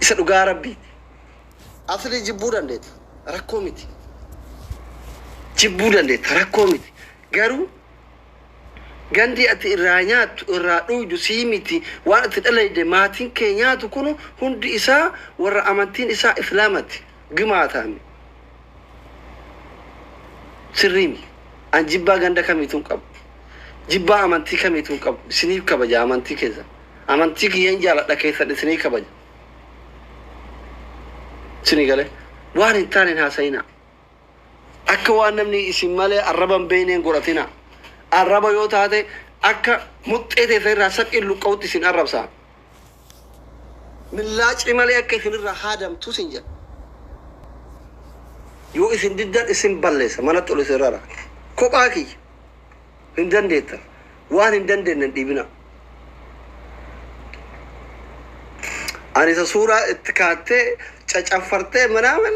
Isa dhugaa rabbiiti. Asli jibbuu dandeetta. Rakkoo miti. Jibbuu dandeetta. Rakkoo miti. Garuu gandi ati irraa nyaattu irraa dhuydu sii miti waan ati dhalayde maatiin kee nyaatu kun hundi isaa warra amantiin isaa islaamati gimaataami. Sirrii miti. An jibbaa ganda kamiituu hin qabu. Jibbaa amantii kamiituu hin qabu. Isiniif kabaja amantii keessan. Amantii kiyyeen jaaladha keessan isinii kabaja. Isinii galee waan hin taane hin haasa'inaa. Akka waan namni isin malee arraba hin beekne hin godhatinaa. Arraba yoo taate akka muxxee teessa irraa saphiin luqqa'utti isin arrabsaa. Millaa ci malee akka isin irraa haadamtu isin jedha. Yoo isin diddan isin balleessa, manatti ol isin rara. Kophaa kiyya hin dandeettan. Waan hin dandeenye hin dhiibinaa. Ani isa suuraa itti kaattee cacaffartee manaaman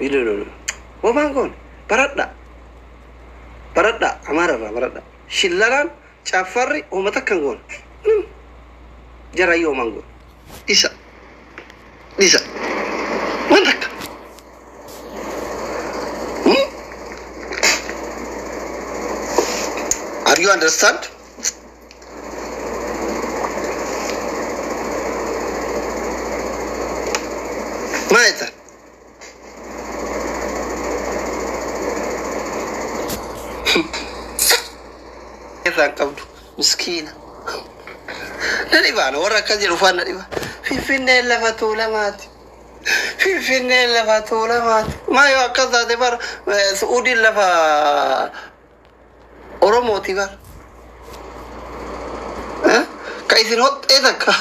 Ililulu. Bofaan kun baradha. Baradha Amaara irraa baradha. Shillalaan caffarri homa takka hin goone. Minimum. Jarayyu homa hin goone. Dhisa. Dhisa. Waan takka. Hmm? Are you understand? Maal jetta? irraa hin qabdu miskiina. Na dhibaana warra akkas jedhu ufaan na dhiba. Finfinneen lafa tuulamaati. Finfinneen lafa tuulamaati. Maa yoo akkas taate bara Su'uudiin lafa Oromooti bar. Eh? Ka isin hoxxee takka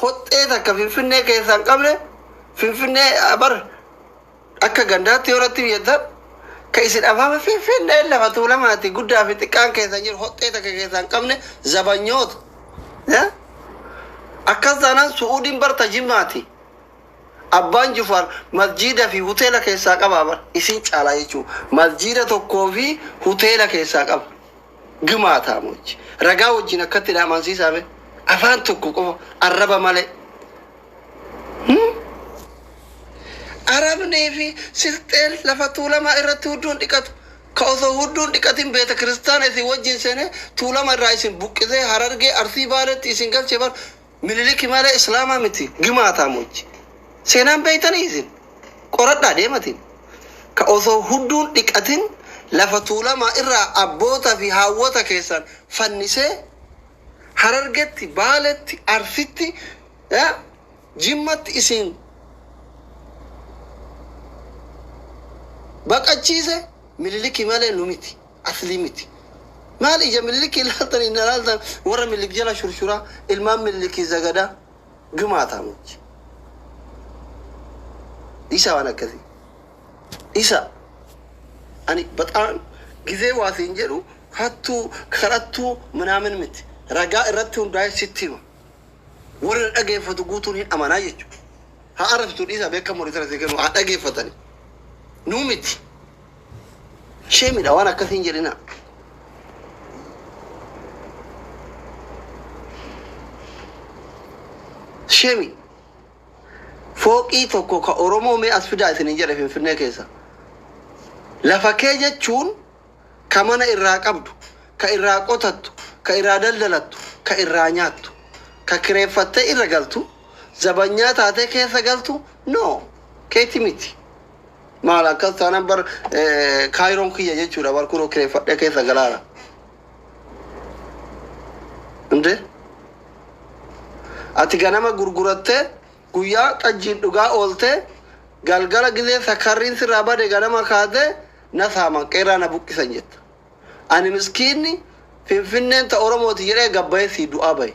hoxxee takka finfinnee keessaa hin qabne finfinnee ah, bar akka gandaatti yoo irratti biyyatta ka isin afaama finfinnee lafa tuulamaati guddaa fi xiqqaan keessa hin jiru hoxxee takka keessaa hin qabne zabanyoota. Eh? Akkas taanaan su'uudiin barta jimmaati. Abbaan jufaar masjiida fi huteela keessaa qabaa bar isin caalaa jechuu masjiida tokkoo fi huteela keessaa qaba gimaataa mochi ragaa wajjin akkatti na amansiisaa mee afaan tokko qofa arraba malee hmm? arabnii fi silxeen lafa tuulamaa irratti hudduun dhiqatu ka osoo hudduun dhiqatin beeta kiristaana isin wajjin seenee tuulama irraa isin buqqisee harargee arsii baaleetti isin galche bar Miniliki malee islaamaa miti gimaataa mochi. Seenaan beeytanii isin qoradhaa deematiin. Ka osoo hudduun dhiqatin lafa tuulamaa irraa abboota fi haawwota keessan fannisee Harargetti, Baaletti, Arsitti, Jimmatti isin baqachiise Miniliki malee nu miti. Aslii miti. Maal ija Miniliki ilaaltan hin alaaltan warra Minilik jala shurshuraa ilmaan Miniliki zagadaa gimaataa miti. Dhiisaa waan akkasii. Dhiisaa. Ani baxaan gizee waa siin jedhu hattuu kadhattuu minaamin miti. Ragaa irratti hundaa'ee sitti hima. Warri na dhageeffatu guutuun hin amanaa jechuudha. Haa arrabsitu dhiisaa beekan morii sana sii kennu haa dhageeffatani. Nuu miti. Sheemidha waan akkasii hin jedhina. Sheemi. Fooqii tokko ka Oromoo mee as fidaa isin hin jedhe Finfinnee keessa. Lafa kee jechuun ka mana irraa qabdu, ka irraa qotattu, ka irraa daldalattu, ka irraa nyaattu, ka kireeffattee irra galtu, zabanyaa taatee keessa galtu, no, keeti miti. Maal akkas taanaan bar eh, kaayiroon kiyya jechuudha bar kunoo kireeffadhee keessa galaara. Hundee ati ganama gurgurattee guyyaa xajjiin dhugaa ooltee galgala gizee sakarriin sirraa bade ganama kaatee na saaman qeerraa na buqqisan jetta. Ani miskiinni finfinneen ta Oromooti jedhee gabbayee sii du'aa bahe.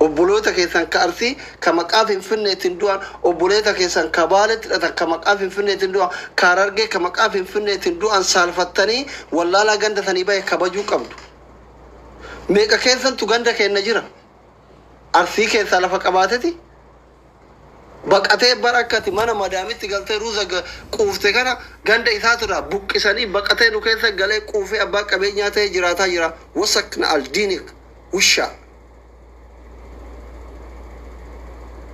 Obboloota keessan ka Arsii ka maqaa Finfinneetiin du'an, obboleeta keessan ka Baaleetti hidhatan ka maqaa Finfinneetiin du'an, ka Harargee ka maqaa Finfinneetiin du'an saalfattanii wallaalaa ganda sanii bahe kabajuu qabdu. Meeqa keessantu ganda keenna jira? Arsii keessaa lafa qabaateti Baqatee bara akka ati mana madaamitti galtee ruuza quufte kana ganda isaatirraa buqqisanii baqatee nu keessa galee quufee abbaa qabeenyaa ta'ee jiraataa jira. Wasak na aldiinik wushaa.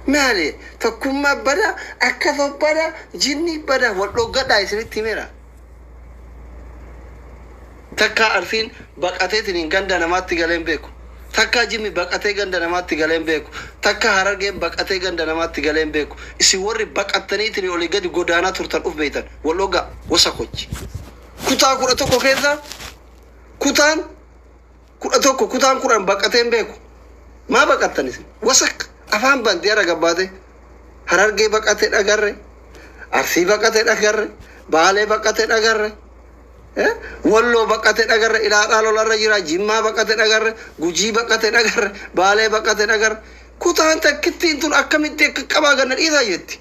Maali tokkummaa bada akka sobbada jinnii bada wal dhoggadhaa isinitti himeera. Takkaa Arsiin baqateetiniin ganda namaatti galee hin beeku. Takkaa Jimmi baqatee ganda namaatti galee hin beeku. Takkaa Harargeen baqatee ganda namaatti galee hin beeku. Isin warri baqattaniitiin olii gadi godaanaa turtan uf beeytan. Wal ogaa wasakochi. Kutaa kudha tokko keessa kutaan kudha tokko kutaan kudhan baqatee hin beeku. Maa baqattan isin? Wasak afaan banti har'a gabbaatee. Harargee baqate dhagarre. Arsii baqate dhagarre. Baalee baqate dhagarre. Eh? Walloo baqate dhagarre. Ilaalaa lolarra jira. Jimmaa baqate dhagarre. Gujii baqate dhagarre. Baalee baqate dhagarre. Kutaan takkittiin tun akkamitti akka qabaa ganna dhiisaa jetti.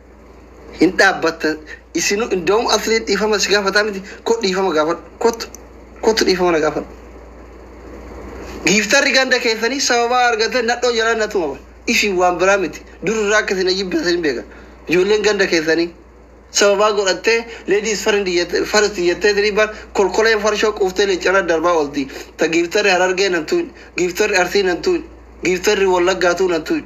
Hin dhaabbatta isinu indawum asliin dhiifama si gaafataa miti ko dhiifama gaafadhu kottu kottu dhiifama na gaafadhu. Giiftarri ganda keessanii sababaa argate nadhoo jalaa na tuma bara. Isin waan biraa miti dur irraa akka isin ajibbeessa hin beeka. Ijoolleen ganda keessanii sababaa godhattee ladies first jette- first jettee isinii bar kolkoleen farshoo quuftee leeccarra darbaa oolti. Ta giiftarri harargee nan tuqin giiftarri arsii nan tuqin giiftarri wallaggaatuu nan tuqin.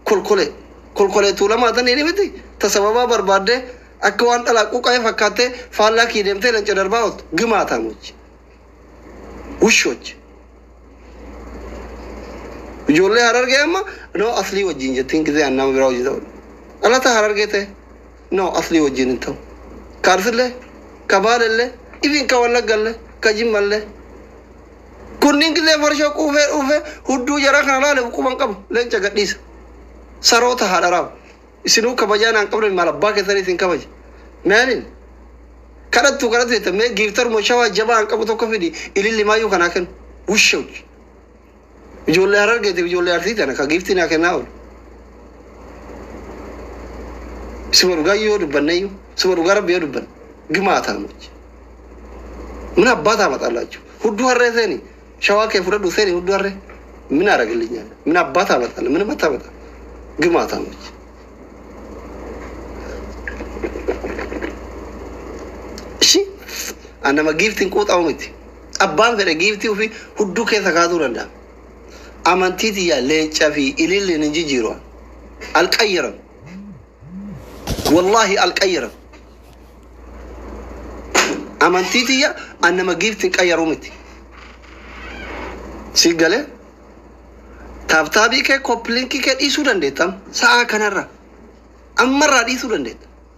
kolkolee. Kolkolee tuulamaa tan inni miti ta sababaa barbaaddee akka waan dhalaa quqa'ee fakkaattee faallaa kii deemtee leenca darbaa ooltu. Gimaataamochi. Wushochi. Ijoollee harargee amma noo aslii wajjin jettiin gizee an nama biraa wajjin ta'u. Dhalata harargee ta'e noo aslii wajjin hin ta'u. Kaarsillee, kabaalellee, ifin ka wallaggallee, ka jimmallee. Kunniin gillee farshoo quufee dhuufee hudduu jaraa kana laale quba hin qabu. Leenca gadhiisa. Saroota haadha raabu. Isinuu kabajaa naan qabne maal abbaa keessanii isin kabaje. Meelin. Kadhattu kadhattu jetta mee giiftaruma shawaa jabaa hin qabu tokko fidi ililli maayyuu kanaa kennu. Wushawdi. Ijoollee Harargeetiif ijoollee Arsii tana ka giiftii naa kennaa oolu. Suma dhugaa yoo dubbanne iyyuu suma dhugaa rabbi yoo dubbanne gimaa taamochi. Min abbaa taama xallaachuu. Hudduu harree seeni shawaa kee fudhadhu seeni hudduu harree. Min aragillinyaan. Min abbaa taama xalla min amma taama xalla. Gimaa taamochi. Shi an nama giiftiin quuxamu miti. Abbaan fedhe giiftii ufii hudduu keessa kaasuu danda'a. Amantii tiyya leenca fi ililliin hin jijjiiru. Alqayyaram. Wallaahi alqayyaram. Amantii tiyya an nama giiftiin qayyaruu miti. Si galee? Taabtaabii kee koppilinkii kee dhiisuu dandeettam. Sa'aa kanarra. Ammarraa dhiisuu dandeetta.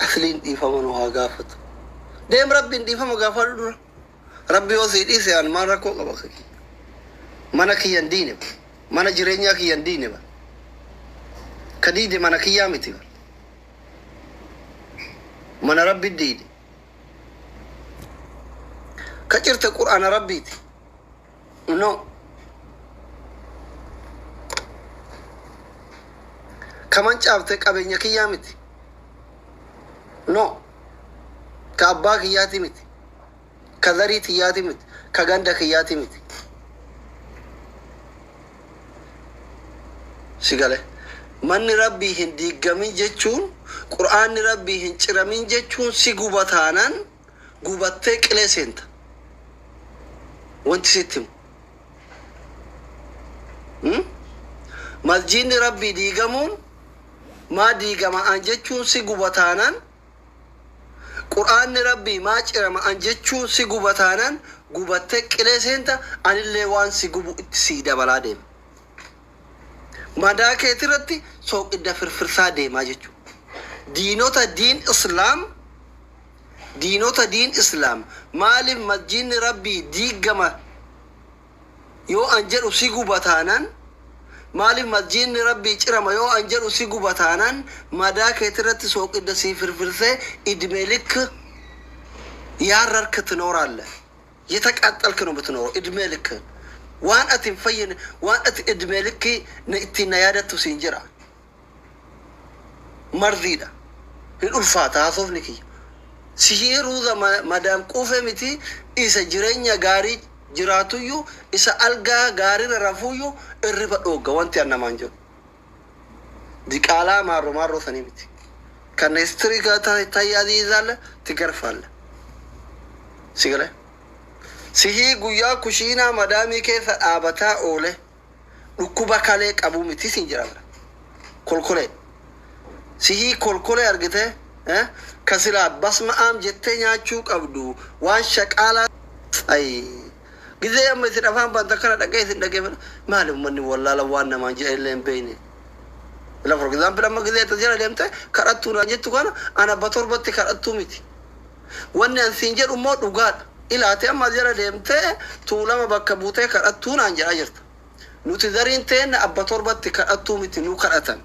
Asliin dhiifama nu haa gaafatu. Deem rabbiin dhiifama gaafadhu dura. Rabbi yoo sii dhiise an maal rakkoo qaba akka kiyya. Mana kiyya hin diine bar. Mana jireenyaa kiyya hin diine bar. Ka diide mana kiyyaa miti bar. Mana rabbi diide. Ka cirte qur'aana rabbiiti. No. Ka mancaafte qabeenya kiyyaa miti. No. Ka abbaa kiyyaati miti. Ka zarii tiyyaati miti. Ka ganda kiyyaati miti. Si gale. Manni rabbii hin diiggamin jechuun, qur'aanni rabbii hin ciramin jechuun si guba taanaan gubattee qilee seenta. Wanti sitti himu. Hmm? Masjiidni Rabbii diigamuun maa diigama'aan jechuun si gubataanaan Qur'aanni Rabbii maa cirama'aan jechuun si gubataanaan gubattee qilee seenta anillee waan si gubu itti sii dabalaa deema. Madaa keetirratti sooqidda firfirsaa deemaa jechuudha. Diinota diin Islaam diinota diin islaam maalif masjiidni rabbii diiggama yoo an jedhu si guba taanan maalif masjiidni rabbii cirama yoo an jedhu si guba taanan madaa keetirratti sooqidda sii firfirsee idmee likk yaarrark tinooraalle yetaqaaxxalk no bitinooro idmee likk waan ati hin fayyine waan ati idmee likkii na ittiin na yaadattu siin jira Marziidha. Hin ulfaata haasofni kiyya. Sihii ruuza madaam quufe miti isa jirenya gaarii jiraatuyyu isa algaa gaarira rafuuyyu irriba dhoogga wanti an namaan jedhu. Diqaalaa maarro maarroo sanii miti. Kan histriga tahi aziizaalla tigarfaalla. Sigale. Sihii guyyaa kushiinaa madaamii keessa dhaabataa oole Dhukkuba kalee qabuu mitii siin jira bara kolkolee sihii kolkolee argitee eh? ka silaa basma'aam jettee nyaachuu qabdu waan shaqaalaa ay gizee amma isin afaan banta akkana dhaqee isin dhageeffadha maali ummanni wallaala waan namaan jedhan illee hin beeyne ila for example amma gizee itti jala deemte kadhattuu naan jettu kana ana ba torbatti kadhattuu miti Wanni an siin jedhu immoo dhugaadha. Ilaa ati amma as jala deemtee Tuulama bakka buutee kadhattuu naan jedhaa jirta. Nuti gariin teenna abba torbatti kadhattuu miti nu kadhatan.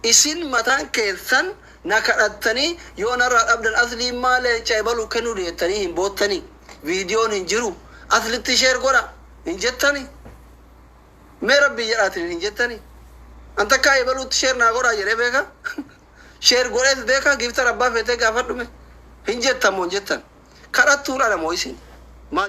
Isin mataan keessan na kadhattanii yoo narraa dhabdan Aslii immaa leenca ebalu kennuu deettanii hin boottanii? Viidiyoon hin jiru. Aslitti share godhaa! hin jettanii? Mee Rabbii jedhaa isinin hin jettanii? An takkaa ebaluutti share naa godhaa jedhee beekaa? Share godheet beeka gifter abbaa feetee gaafadhu me hin jettan mo hin jettan kadhattuun ana mo isin maa